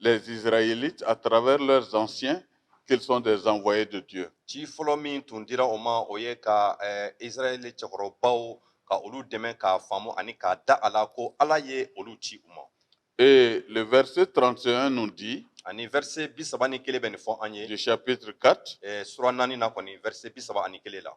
les Israélites à travers leurs anciens qu'ils sont des envoyés de Dieu. Ci fɔlɔ min tun dira o ma o ye ka eh, Israɛl cɛkɔrɔbaw ka olu dɛmɛ k'a faamu ani k'a da a la ko Ala ye olu ci u ma. Et le verset 31 nous dit, Ani verset bi saba ni kelen bɛ nin fɔ an ye du chapitre 4, eh, sura naani na kɔni verset bi saba ani kelen la.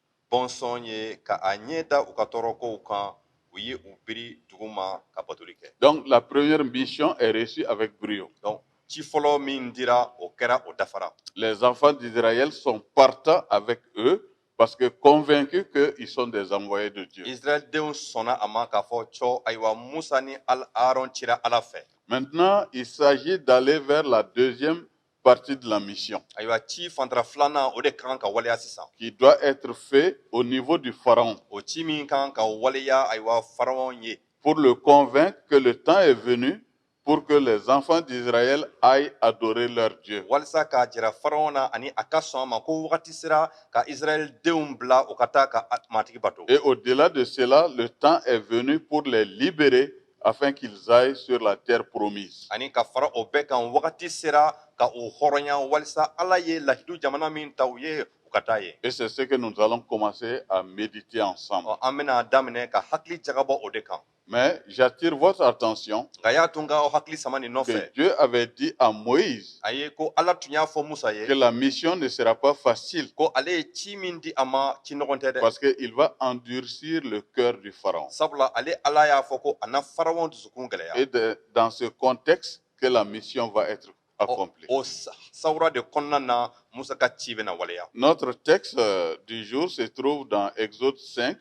bɔnsɔn ye ka a ɲɛ da u ka tɔɔrɔkow kan u ye u biri duguma ka batoli kɛ donc la première mission est reçue avec brio donc ci fɔlɔ min dira o kɛra o dafara les enfants d'Israël sont partants avec eux parce que convaincus que ils sont des envoyés de Dieu Israël denw sɔnna a ma k'a fɔ ko ayiwa Musa ni Aaron cira Ala fɛ maintenant il s'agit d'aller vers la deuxième partie de la mission. Ayiwa ci fantara filanan o de ka kan ka waleya sisan. Qui doit être fait au niveau du pharaon. O ci min ka kan ka waleya ayiwa pharaon ye. Pour le convaincre que le temps est venu pour que les enfants d'Israël aillent adorer leur Dieu. Walisa k'a jira pharaon na ani a ka sɔn a ma ko wagati sera ka Israël denw bila u ka taa ka matigi bato. Et au-delà de cela, le temps est venu pour les libérer afin qu'ils aillent sur la terre promise. Ani ka fara o bɛɛ kan wagati sera ka u hɔrɔnya walisa Ala ye lahidu jamana min ta u ye u ka taa yen. Et c'est ce que nous allons commencer à méditer ensemble. Ɔ an bɛna daminɛ ka hakili jagabɔ o de kan. Mais j'attire votre attention. Nka y'a to n ka aw hakili sama nin nɔfɛ. Que Dieu avait dit à Moïse. a ye ko ala tun y'a fɔ musa ye que la mission ne sera pas facile ko ale ye ci min di a ma ci nɔgɔn tɛ dɛ parce que il va endurcir le cœur du pharaon sabula ale ala y'a fɔ ko a na pharaon dusukun gɛlɛya et de, dans ce contexte que la mission va être accomplie o sawura de kɔnɔna na musa ka ci bɛna waleya notre texte euh, du jour se trouve dans exode 5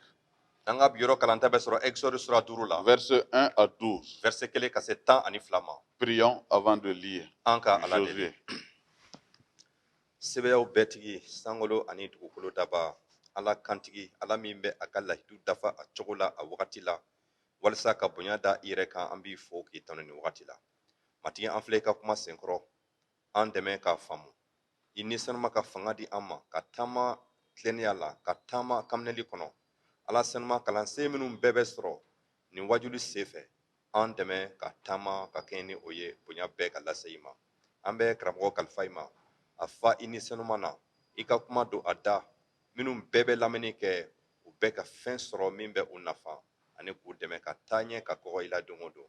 An ka bi yɔrɔ kalanta bɛ sɔrɔ Exode sura 5 la. Verset 1 à 12. Verset 1 ka se 12 ma. Prions avant de lire. An ka Ala deli. Sebayaw bɛɛ tigi, sankolo ani dugukolo daba, Ala kantigi, Ala min bɛ a ka lahidu dafa a cogo la a wagati la, walisa ka bonya da i yɛrɛ kan, an b'i fo k'i tanu nin wagati la. Matigi, an filɛ i ka kuma senkɔrɔ, an dɛmɛ k'a faamu. i ni senuma ka fanga di an ma ka taama tilennenya la ka taama kanminɛli kɔnɔ ala senuma kalansen minnu bɛɛ bɛ sɔrɔ nin wajuli senfɛ an dɛmɛ ka taama ka kɛɲɛ ni o ye bonya bɛɛ ka lase i ma an bɛ karamɔgɔ kalifa i ma a fa i ni senuma na i ka kuma don a da minnu bɛɛ bɛ lamɛnni kɛ u bɛɛ ka fɛn sɔrɔ min bɛ u nafa ani k'u dɛmɛ ka taa ɲɛ ka kɔgɔ i la don o don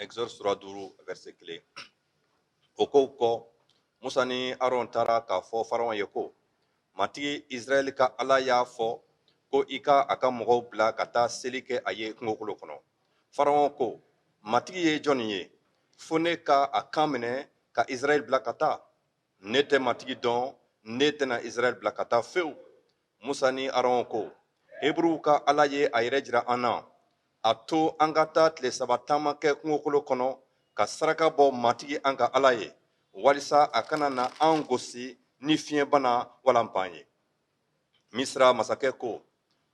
Exode sura 5 verset 1 O kow kɔ, Musa ni Aron taara k'a fɔ Faraon ye ko, Matigi Israɛl ka Ala y'a fɔ ko i ka a ka mɔgɔw bila ka taa seli kɛ a ye kungokolo kɔnɔ. Faraon ko, Matigi ye jɔn ye, fo ne ka a kan minɛ ka Israɛl bila ka taa? Ne tɛ Matigi dɔn, ne tɛna Israɛl bila ka taa fewu. Musa ni Aron ko, Heburuw ka Ala ye a yɛrɛ jira an na, a to an ka taa tile saba taama kɛ kungokolo kɔnɔ ka saraka bɔ Matigi an ka Ala ye, walisa a kana na an gosi ni fiɲɛbana wala npan ye. Misira masakɛ ko,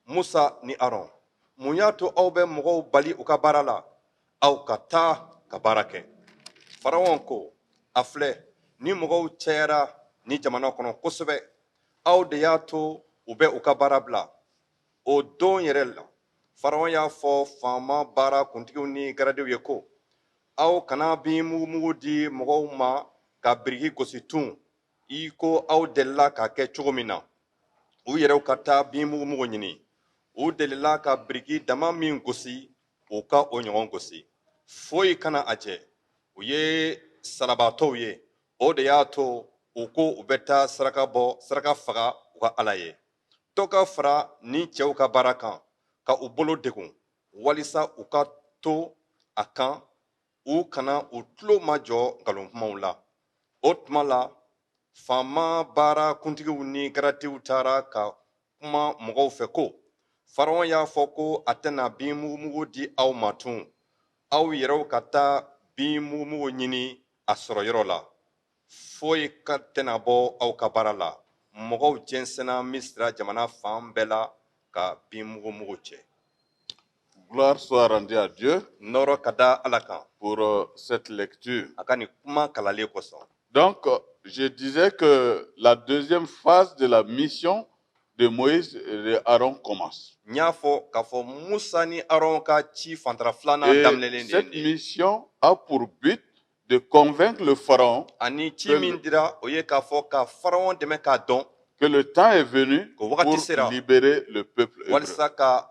Musa ni Aron, mun y'a to aw bɛ mɔgɔw bali u ka baara la? Aw ka taa ka baara kɛ. Faraon ko, A filɛ, nin mɔgɔw cayara nin jamana kɔnɔ kosɛbɛ, aw de y'a to u bɛ u ka baara bila o don yɛrɛ la faraɔn y'a fɔ faama baara kuntigiw ni garadiw ye ko aw kana bin mugumugu di mɔgɔw ma ka biriki gosi tun i ko aw delila k'a kɛ cogo min na u yɛrɛw ka taa bin mugumugu ɲini u delila ka biriki dama min gosi u ka o ɲɔgɔn gosi foyi kana a jɛ u ye salabaatɔw ye o de y'a to u ko u bɛ taa saraka bɔ saraka faga u ka ala ye dɔ ka fara nin cɛw ka baara kan ka u bolo degun walisa u ka to a kan u kana u tulo majɔ nkalon kumaw la o tuma la faama baara kuntigiw ni garadiw taara ka kuma mɔgɔw fɛ ko faraɔn y'a fɔ ko a tɛna bin mugumugu di aw ma tun aw yɛrɛw ka taa bin mugumugu ɲini a sɔrɔ yɔrɔ la foyi ka tɛna bɔ aw ka baara la mɔgɔw jɛnsɛnna misira jamana fan bɛɛ la ka bin mugumugu cɛ Gloire soit rendue à Dieu nɔrɔ ka da ala kan pour euh, cette lecture. a ka nin kuma kalanlen kosɔn Donc, euh, je disais que la deuxième phase de la mission de Moïse et de Aaron commence. N y'a fɔ k'a fɔ Musa ni Aron ka ci fantara filanan Et daminɛlen de cette ye nin ye. mission a pour but de convaincre le pharaon Ani ci min dira o ye k'a fɔ ka Faraon dɛmɛ k'a dɔn que le temps est venu Ko wagati pour sera. libérer le peuple hébreu. walisa ka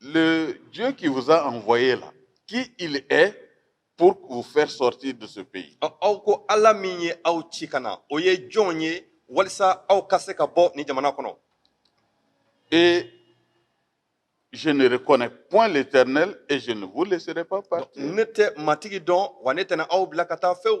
Le Dieu qui vous a envoyé là, qui il est pour vous faire sortir de ce pays Aw ko Ala min ye aw ci ka na, o ye jɔn ye walisa aw ka se ka bɔ nin jamana kɔnɔ? Et je ne reconnais point l'Éternel et je ne vous laisserai pas partir. Ne tɛ matigi dɔn wa ne tɛna aw bila ka taa fewu.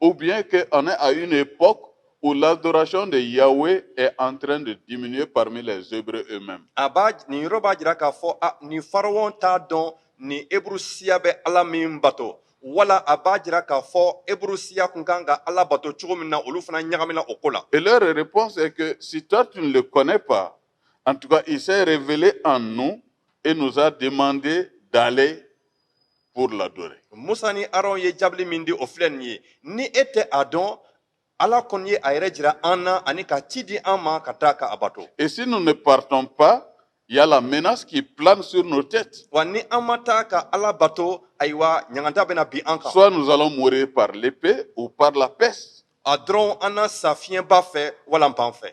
Ou bien qu'on est à une époque où l'adoration de Yahweh est en train de diminuer parmi les Hébreux eux-mêmes. A b'a nin yɔrɔ b'a jira k'a fɔ a nin farawɔn t'a dɔn nin Hébreu siya bɛ Ala min bato wala a b'a jira k'a fɔ Hébreu siya kun kan ka Ala bato cogo min na olu fana ɲagamina o ko la. Et leur réponse est que si toi tu ne le connais pas, en tout cas il s'est révélé en nous et nous a demandé d'aller pour l'adorer. Musa ni Aaron ye jaabili min di o filɛ nin ye ni e tɛ a dɔn Ala kɔni ye a yɛrɛ jira an na ani ka ci di an ma ka taa ka a bato. Et si nous ne partons pas il y a la menace qui plane sur nos têtes. Wa ni an ma taa ka Ala bato ayiwa ɲangata bɛna bin an kan. Soit nous allons mourir par l'épée ou par la peste. A dɔrɔn an na sa fiɲɛba fɛ wala npan fɛ.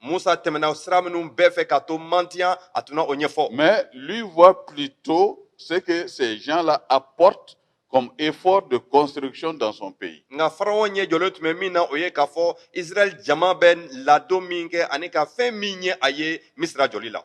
Moussa tɛmɛna o sira minnu bɛɛ fɛ ka to mantiya a tun na o ɲɛfɔ. Mais lui voit plutôt ce que ces gens-là apportent comme effort de construction dans son pays. Nka Farawo ɲɛ jɔlen tun bɛ min na o ye k'a fɔ Israël jama bɛ ladon min kɛ ani ka fɛn min ɲɛ a ye Misira jɔli la.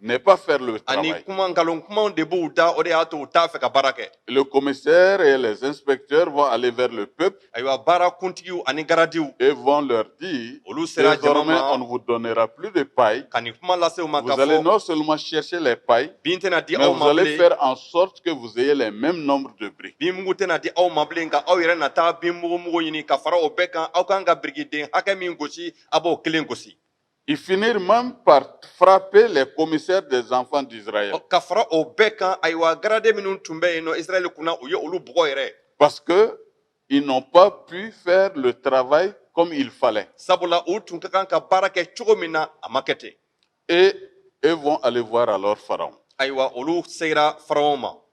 ne pas faire le travail. ani kuma nkalon kumaw de b'u da o de y'a to u t'a fɛ ka baara kɛ Les commissaires et les inspecteurs vont aller vers le peuple ayiwa baara kuntigiw ani garadiw et vont leur dire olu sera jama ma désormais on ne vous donnera plus de paille. ka nin kuma lase u ma k'a fɔ Vous allez non seulement chercher les pailles, bin tɛna di aw ma bilen mais vous allez faire en sorte que vous ayez les mêmes nombres de briques. bin mugu tɛna di aw ma bilen nka aw yɛrɛ na taa bin mugu mugu ɲini ka fara o bɛɛ kan aw kan ka birikiden hakɛ min gosi aw b'o kelen gosi I finir man pa farap pe la komisi de zanfa dira ye ka fara o bɛɛ kan ayiwa garan minnu tun bɛ yen nɔ irili kunna u ye olu bugɔ yɛrɛ pa que i nɔ pan p fɛ taba ye kɔmi fa sabula u tun ka kan ka baara kɛ cogo min na a ma kɛ ten e e fɔ ale fɔra la fara ayiwa olu sera faraw ma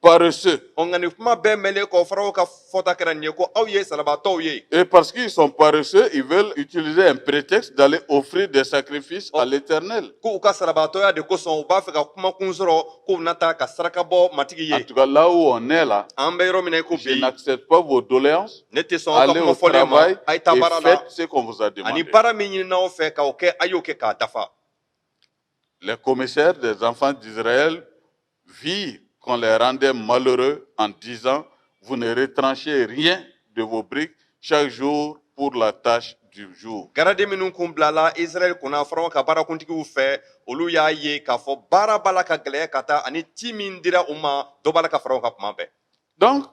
paresseux. Ɔ, nka nin kuma bɛɛ mɛnlen kɔ, Farao ka fɔta kɛra nin ye ko aw ye salabaatɔw ye. Et parce qu'ils sont paresseux, ils veulent utiliser un prétexte d'aller offrir des sacrifices à l'Éternel. K'u ka salabaatɔya de kosɔn, u b'a fɛ ka kuma kun sɔrɔ k'u bɛna taa ka saraka bɔ Matigi ye. En tout cas, là où on est là, An bɛ yɔrɔ min na i ko bi, je n'accepte pas vos doléances. ne tɛ sɔn aw ka kuma fɔlen ma, Allez au travail a ye taa baara la. et faites ce qu'on vous a demandé. Ani baara min ɲinina aw fɛ k'o kɛ, a y'o kɛ k'a dafa. Les commissaires des enfants d'Israël vit qu'on les rendait malheureux en disant, vous ne retranchez rien de vos briques chaque jour pour la tâche du jour. Garade minnu kun bilala Israël kunna Faraon ka baarakuntigiw fɛ, olu y'a ye k'a fɔ baara b'a la ka gɛlɛya ka taa ani ci min dira u ma, dɔ b'a la ka fara o kan tuma bɛɛ. Donc,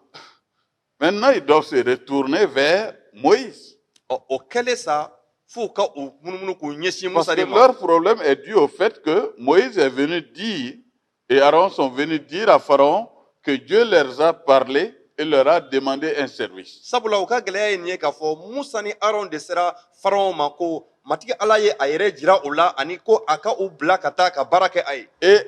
Maintenant, ils doivent se retourner vers Moïse. Ɔ, o kɛlen sa f'u ka u munumunu k'u ɲɛsin musa de ma Parce que leur problème est dû au fait que Moïse est venu dire et Aaron sont venus dire à Pharaon que Dieu leur a parlé et leur a demandé un service. sabula u ka gɛlɛya ye nin ye k'a fɔ musa ni aron de sera faraon ma ko matigi ala ye a yɛrɛ jira u la ani ko a ka u bila ka taa ka baara kɛ a ye Et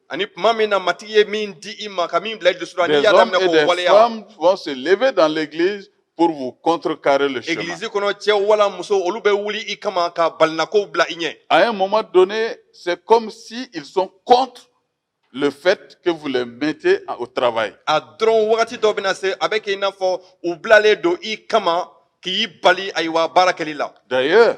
Ani tuma min na matigi ye min di i ma ka min bila i dusu la n'i y'a daminɛ k'o waleya Des hommes et des femmes vont se lever dans l'église pour vous contrecarrer le chemin. egilizi kɔnɔ cɛ wala muso olu bɛ wuli i kama ka balinakow bila i ɲɛ À un moment donné, c'est comme si ils sont contre le fait que vous les mettez en- au travail. a dɔrɔn wagati dɔ bɛna se a bɛ kɛ i n'a fɔ u bilalen don i kama k'i bali ayiwa baara kɛli la D'ailleurs,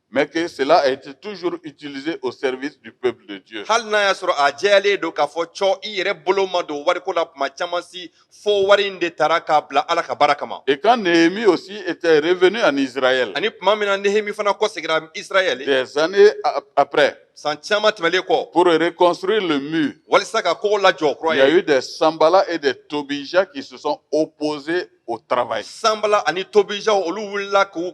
mais que cela a été toujours utilisé au service du peuple de Dieu. Hali n'a y'a sɔrɔ a jɛyalen don k'a fɔ cɔ i yɛrɛ bolo ma don wariko la tuma caman si fo wari in de tara k'a bila Ala ka baara kama. Et quand Néhémie aussi était revenu en Israël. Ani tuma min na Néhémie fana kɔsegira Israël. Des années après. San caman tɛmɛlen kɔ. Pour reconstruire le mur. Walisa ka kogo lajɔ kura ye. Il y a eu des Sanballat et des Tobija qui se sont opposés au travail. Sanballat ani Tobija olu wulila k'u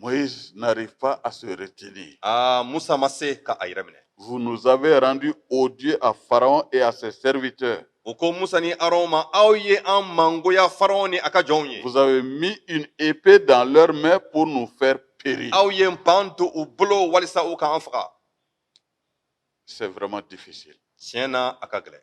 Mo nafa a sere teli aa musa ma se ka a yɛrɛ minɛ vza bɛrandu o di a faraw e a se sɛte u ko musa ni aw ma aw ye an mangoya faraw ni a ka jɔnw ye musa min ep dan mɛn p n'u fɛ pere aw ye pan to u bolo walisa u k'an faga sɛ wɛrɛma dife tiɲɛ na a ka gɛlɛn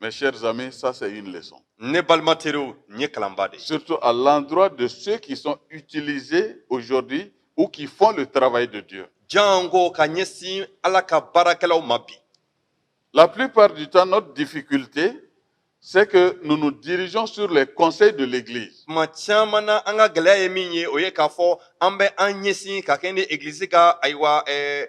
Mes chers amis, ça c'est une leçon. Ne balima teriw nin ye kalanba de ye. Surtout à l'endroit de ceux qui sont utilisés aujourd'hui ou qui font le travail de Dieu. Jango ka ɲɛsin Ala ka baarakɛlaw ma bi. La plupart du temps, notre difficulté, c'est que nous nous dirigeons sur les conseils de l'Église. Tuma caman na an ka gɛlɛya ye min ye o ye k'a fɔ an bɛ an ɲɛsin ka kɛɲɛ ni egilizi ka ayiwa ɛɛ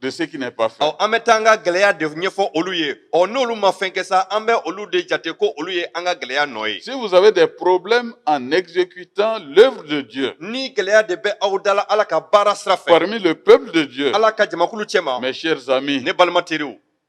de ce qui n'est pas fait. Ɔ an bɛ taa an ka gɛlɛya de ɲɛfɔ olu ye ɔ n'olu ma fɛn kɛ sa an bɛ olu de jate ko olu ye an ka gɛlɛya nɔ ye Si vous avez des problèmes en exécutant l'œuvre de Dieu ni gɛlɛya de bɛ aw da la ala ka baara sira fɛ parmi le peuple de Dieu, ala ka jamakulu cɛma mes chers amis, ne balima teriw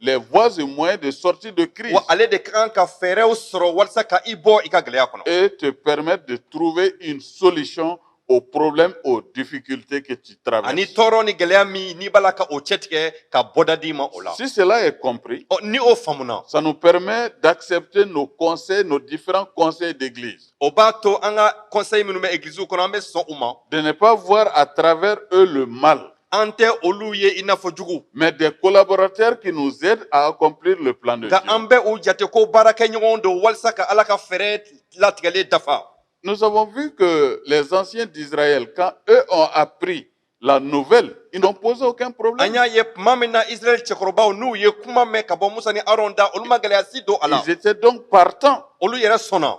les voies et moyens de sortie de crise. Wa ale de ka kan ka fɛɛrɛw sɔrɔ walisa ka i bɔ i ka gɛlɛya kɔnɔ. Et te permettre de trouver une solution aux problèmes, aux difficultés que tu traverses. Ani tɔɔrɔ ni gɛlɛya min n'i b'a la ka o cɛtigɛ ka bɔda d'i ma o la. Si cela est compris. Ɔ ni o faamuna. Ça nous permet d'accepter nos conseils, nos différents conseils d'église. O b'a to an ka conseil minnu bɛ egilizi kɔnɔ an bɛ sɔn u ma. De ne pas voir à travers eux le mal. An tɛ olu ye i n'a fɔ jugu mais des collaborateurs qui nous aident à accomplir le plan de Dieu, nka an bɛ u jate ko baarakɛɲɔgɔn don walasa ka Ala ka fɛɛrɛ latigɛlen dafa. Nous avons vu que les anciens d'Israël, quand eux ont appris la nouvelle, ils n'ont posé aucun problème. An y'a ye tuma min na Israɛl cɛkɔrɔbaw n'u ye kuma mɛn ka bɔ Musa ni Aron da, olu ma gɛlɛya si don a la. Ils étaient donc partants. Olu yɛrɛ sɔnna.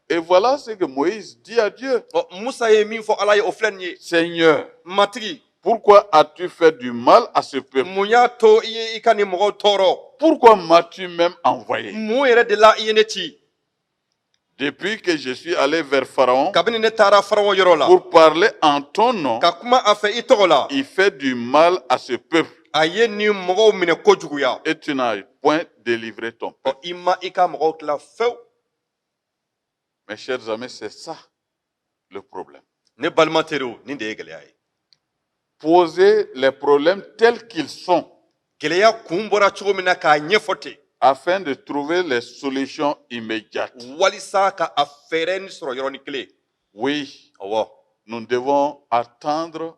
Et voilà ce que Moïse dit à Dieu. Ɔ, musa ye min fɔ ala ye o filɛ nin ye Seigneur, matigi pourquoi as-tu fait du mal à ce peuple mun y'a to i ye i ka nin mɔgɔw tɔɔrɔ Pourquoi m'as-tu même envoyé mun yɛrɛ de la i ye ne ci Depuis que je suis allé vers Pharaon kabini ne taara farawo yɔrɔ la pour parler en ton nom, ka kuma a fɛ i tɔgɔ la il fait du mal à ce peuple a ye nin mɔgɔw minɛ kojuguya et tu n'as point délivré ton peuple. Ɔ, i ma i ka mɔgɔw tila fewu Mes chers amis, c'est ça le problème. Ne balima teriw nin de ye gɛlɛya ye Poser les problèmes tels qu'ils sont gɛlɛya kun bɔra cogo min na k'a ɲɛfɔ ten afin de trouver les solutions immédiates. walisa ka a fɛɛrɛ nin sɔrɔ yɔrɔnin kelen Oui, awɔ nous devons attendre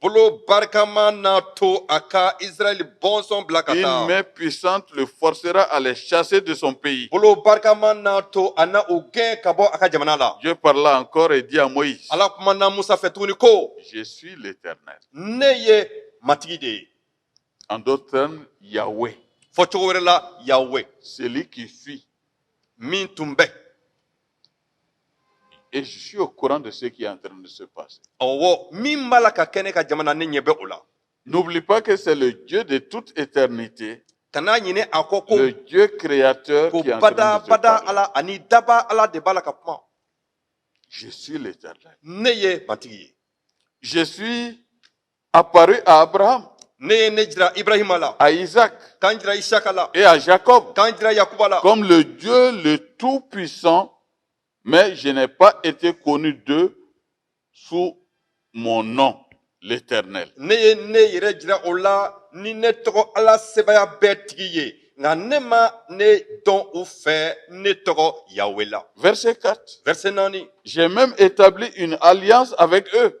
bolo barikama n'a to a ka Israɛl bɔnsɔn bila ka taa. Une main puissante le forcera à les chasser de son pays. Bolo barikama n'a to a na u gɛn ka bɔ a ka jamana la. Dieu parla encore et dit à Moïse. Ala kumana Musa fɛ tuguni ko. Je suis l'Éternel. Ne ye matigi de ye. En d'autres termes, Yahweh. Fɔcogo wɛrɛ la, Yahweh. Celui qui fut. Min tun bɛ. Et je suis au courant de ce qui est en train de se passer. Ɔwɔ min b'a la ka kɛ ne ka jamana ne ɲɛ bɛ o la. N'oublie pas que c'est le Dieu de toute éternité, Kana ɲinɛ a kɔ ko le Dieu créateur qui est en train de te parler. ko bada bada ala ani dabaa ala de b'a la ka kuma. Je suis l'éternel. Ne ye matigi ye. Je suis Apparut à Abraham. Ne ye n jira Ibrahima la. À Isaac. Ka n jira Isaka la. Et à Jacob. Ka n jira Yakuba la. Comme le Dieu le Tout-Puissant, mais je n'ai pas été connu d'eux sous mon nom, l'Éternel. Ne ye ne yɛrɛ jira u la ni ne tɔgɔ Ala sebaaya bɛɛ tigi ye nka ne ma ne dɔn u fɛ ne tɔgɔ Yawe la. Verset 4. Verset naani. J'ai même établi une alliance avec eux.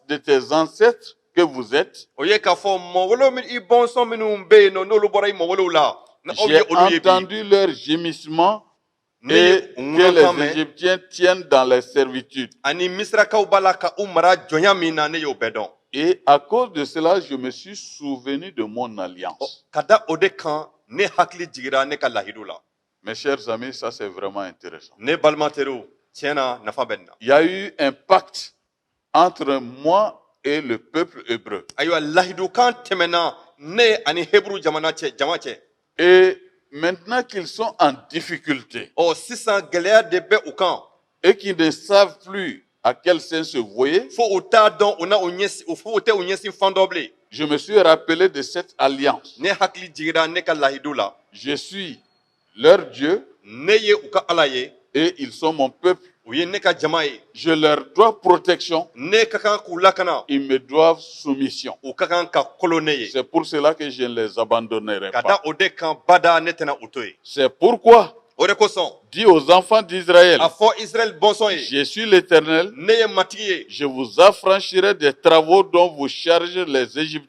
de tes ancêtres que vous êtes, o ye k'a fɔ mɔgɔwolow min i bɔnsɔn minnu bɛ yen nɔ n'olu bɔra i mɔgɔwolow la na aw ye olu ye bi j'ai entendu leurs gémissements ne ye u ŋolokan mɛn et que les Égyptiens tiennent dans les servitudes. ani misirakaw b'a la ka u mara jɔnya min na ne y'o bɛɛ dɔn Et à cause de cela, je me suis souvenu de mon alliance. Ɔ, ka da o de kan ne hakili jigira ne ka lahidu la Mes chers amis, ça c'est vraiment intéressant. ne balima teriw tiɲɛ na nafa bɛ nin na Il y a eu un pacte entre moi et le peuple hébreu. Ayiwa lahidukan tɛmɛna ne ani hébreu jamana cɛ jama cɛ. Et maintenant qu'ils sont en difficulté. Ɔ sisan gɛlɛya de bɛ u kan. Et qu'ils ne savent plus à quel saint se vouer. Fo u t'a dɔn u na u ɲɛsin fo u tɛ u ɲɛsin fan dɔn bilen. Je me suis rappelé de cette alliance. Ne hakili jigira ne ka lahidu la. Je suis leur Dieu, ne ye u ka Ala ye, et ils sont mon peuple, u ye ne ka jama ye, je leur dois protection, ne ka kan k'u lakana, ils me doivent soumission. u ka kan ka kolo ne ye. C'est pour cela que je ne les abandonnerai pas. Ka da o de kan bada ne tɛna u to yen. C'est pourquoi O de kosɔn, dis aux enfants d'Israël, a fɔ Israɛl bɔnsɔn ye, je suis l'Éternel, ne ye matigi ye, je vous affranchirai des travaux dont vous chargent les Égyptiens.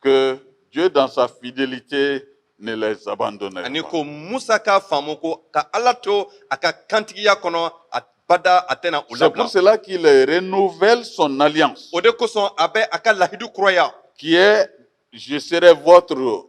que Dieu dans sa fidélité ne les abandonne pas. ko Musa k'a faamu ko ka Ala to a ka kantigiya kɔnɔ abada a tɛna u C'est pour cela qu'il renouvelle son alliance. O de kosɔn a bɛ a ka lahidu kuraya. Qui est je serai votre